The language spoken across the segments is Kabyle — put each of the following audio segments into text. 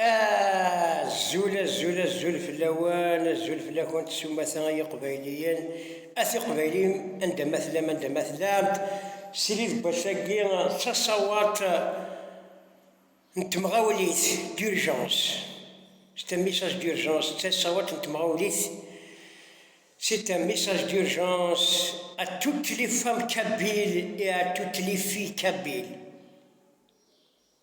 Azul, azul, azul fell-awen, azul fell-akent s umata ay iqbayliyen, at iqbayliyen anda ma tellam, anda ma tellamt, srid n wass-agi d taṣawaḍt n temɣawlit, d'urgence, c'est un message d'urgence, d taṣawaḍt n temɣawlit, c'est un message d'urgence à toutes les femmes kabyles et à toutes les filles kabyles.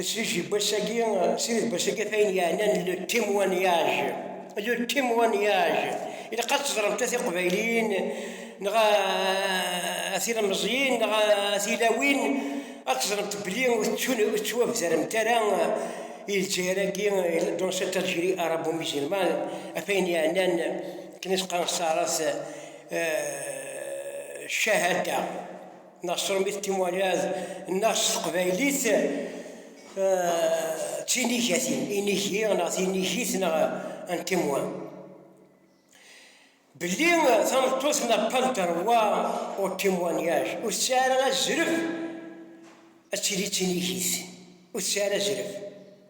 Sidi Bassagi, Sidi Bassagi ata ayen yeɛnan le témoignage, le témoignage. Ilaq ad teẓremt a tiqbayliyin neɣ a tilemẓiyin neɣ a tilawin ad teẓremt belli ur tettwabdaremt ara i Lezzayer-agi dans cette Algérie arabo-musulmane ɣef ayen yeɛnan akken i s-qqaren s taɛrabt cahada. Nasrum i témoignage nneɣ s teqbaylit d tinigatin, inigi neɣ tinigit neɣ un témoin. Belli tameṭṭut n'a pas le droit au témoignage, ur tesɛi ara azref ad tili d tinigit, ur tesɛi ara azref.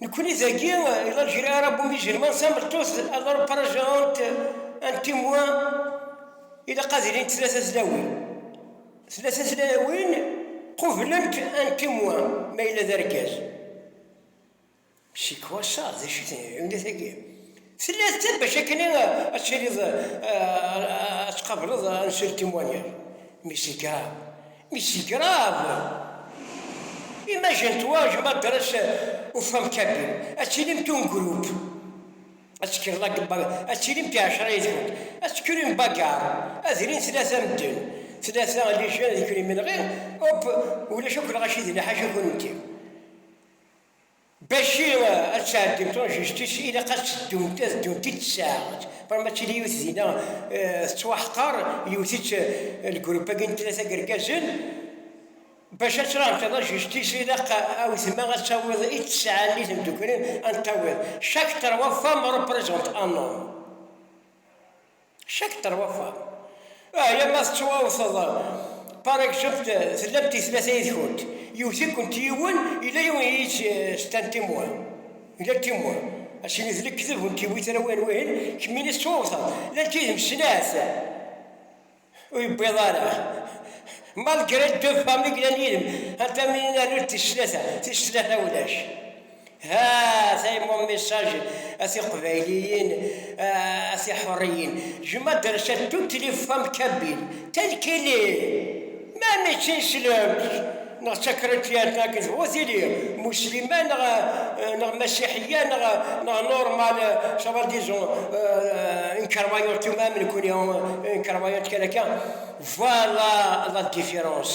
Nekkni dagi i la ngerir arabu musulman, tameṭṭut a la nparaja un témoin, ilaq ad ilint tlata tlawin, tlata tlawin qublent un témoin ma yella d argaz. C'est quoi ça? D acu-ten lɛiunat-agi? Tella d ta bac akken ad tiliḍ ad tqableḍ un seul témoignage. Mais c'est grave. Mais c'est grave! Imagine toi, je m'adresse aux femmes kabyles, ad tilimt un groupe, ad tekkeḍ la ad tilimt ɛecra yid-kent, ad tekker une bagarre, ad rint tlata medden, tlata les jeunes d imenɣi, hop, ulac akk lɣaci d liḥaca kunemti. Bac i ad tɛeddim tunjict-is, ilaq ad teddunt, ad ddunt-id tsaɛet. Però ma tili yiwet dinna tettwaḥqer, yewwet-itt lgrup-agi n tlata n yergazen. Bac ad traɛem tanajict-is, ilaq a wetma ad tawiḍ i tesɛa-nni tmeddukli, ad n-tawiḍ chaque trois femmes représentent un homme. Cak terwafa. Ahya ma tettwawteḍ paragzut tellamt i tlata yid-kunt, yewwet-ikent yiwen yella yiwen i yi-tt-stan timwa, gar timwa, acimi d lekdeb ur ntiwi tara win wihin, kemm ini tettwawteḍ llant yid-m snat ur yewwiḍ ara malgré deux femmes i yellan yid-m, anta mi ini rnu-d tis tlata, tis tlata ulac. Ha tayemmun message a tiqbayliyin, a tiḥuriyin, jem adresse de toutes les femmes kabyles tel qu'il est, ma mačči n slemt neɣ d takrityant neɣ d bu tili muslima neɣ neɣ masiḥiya neɣ neɣ normal ça va disons une croyante tout même nekuni une croyante quelqu'un voilà la différence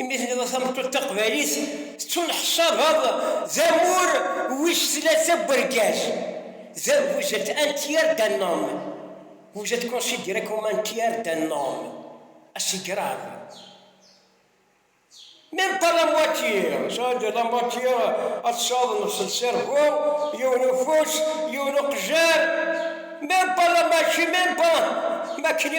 Imi teniḍ a tameṭṭut taqbaylit tettunḥsabeḍ d amur wis tlata n urgaz, da vous êtes un tiers d'un homme, vous êtes considéré comme un tiers d'un homme, ah c'est grave, même pas la moitié, ça veut dire la moitié ad tessaḍneḍ s lserbu, yiwen ufus, yiwen uqejjar, même pas la moitié, même pas, ma kni.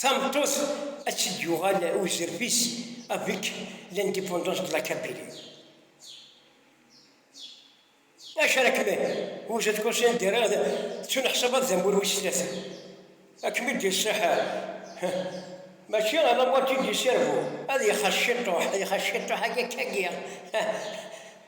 Tameṭṭut ad tt-id-yuɣal uzref-is avec l'indépendance de la Kabylie. Acu ara kem-id, vous êtes conscient de rad tettuneḥsabeḍ d amur wis tlata. Ad kem-id iṣṣiḥ mačči alamma tt-id-yessirbu ad ixas ciṭuḥ, ad ixas ciṭuḥ-agi akka-agi.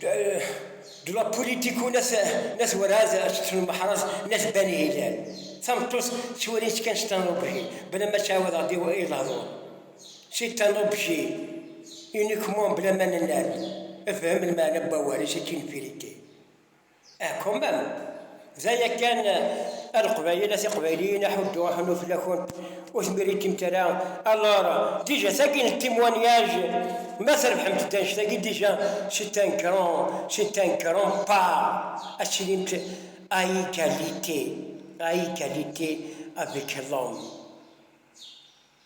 de la politique n at Waraz ačeṭṭef n Meḥraz n at Bani Hilal. Tameṭṭut ttwalin-tt kan s tanubji, bla ma ttɛawad ɣer diwa i lehdur. Si tanubji, uniquement bla ma nenna-d, efhem lmeɛna n wawal, c'est une vérité. Aḥkummem, d aya kan, a Leqbayel, a Tiqbayliyin, aḥuddu, aḥunnu fell-akent ur tmiritimt ara, alors, déjà tagi n témoignage, ma trebḥemt-d annect-agi déjà c'est un grand, c'est un grand pas, ad tilimt à égalité, à égalité avec l'homme.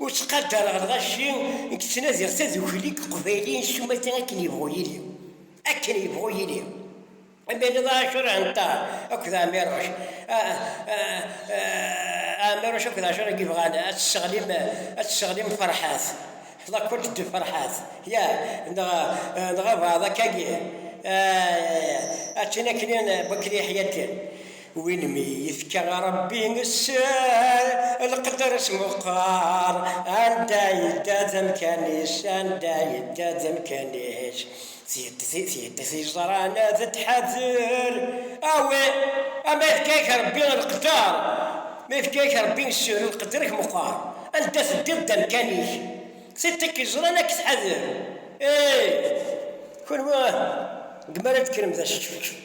Ur ttqadareɣ lɣaci i yettnadiɣ tadukli deg Uqbayliyen s umata akken yebɣu yili. Akken yebɣu yili. Imaliḍ Ɛacur Ɛenṭar akked Ɛmiruc. Ɛmiruc akked Ɛacur i yebɣan ad tesseɣlim, ad tesseɣlim Ferḥat. Lakult d Ferḥat. Ya, neɣ, neɣ abeɛḍ akkagi. Ay, ay, ay, ay. Akken, akken, bakken yeḥya akken. Win mi yefka Ṛebbi sser, leqder-is meqqer, anda yedda d amkan-is, anda yedda d amkan-ik, tiyeddit yeẓran ad tḥader, awi, a ma yefka-ak Ṛebbi leqder, ma yefka-ak Ṛebbi sser, leqder-ik meqqer, anda teddiḍ d amkan-ik, tiṭ-ik yeẓran ad k-tḥader, ih, kunwi, deg mi ara d-tekkrem d aseččefčef.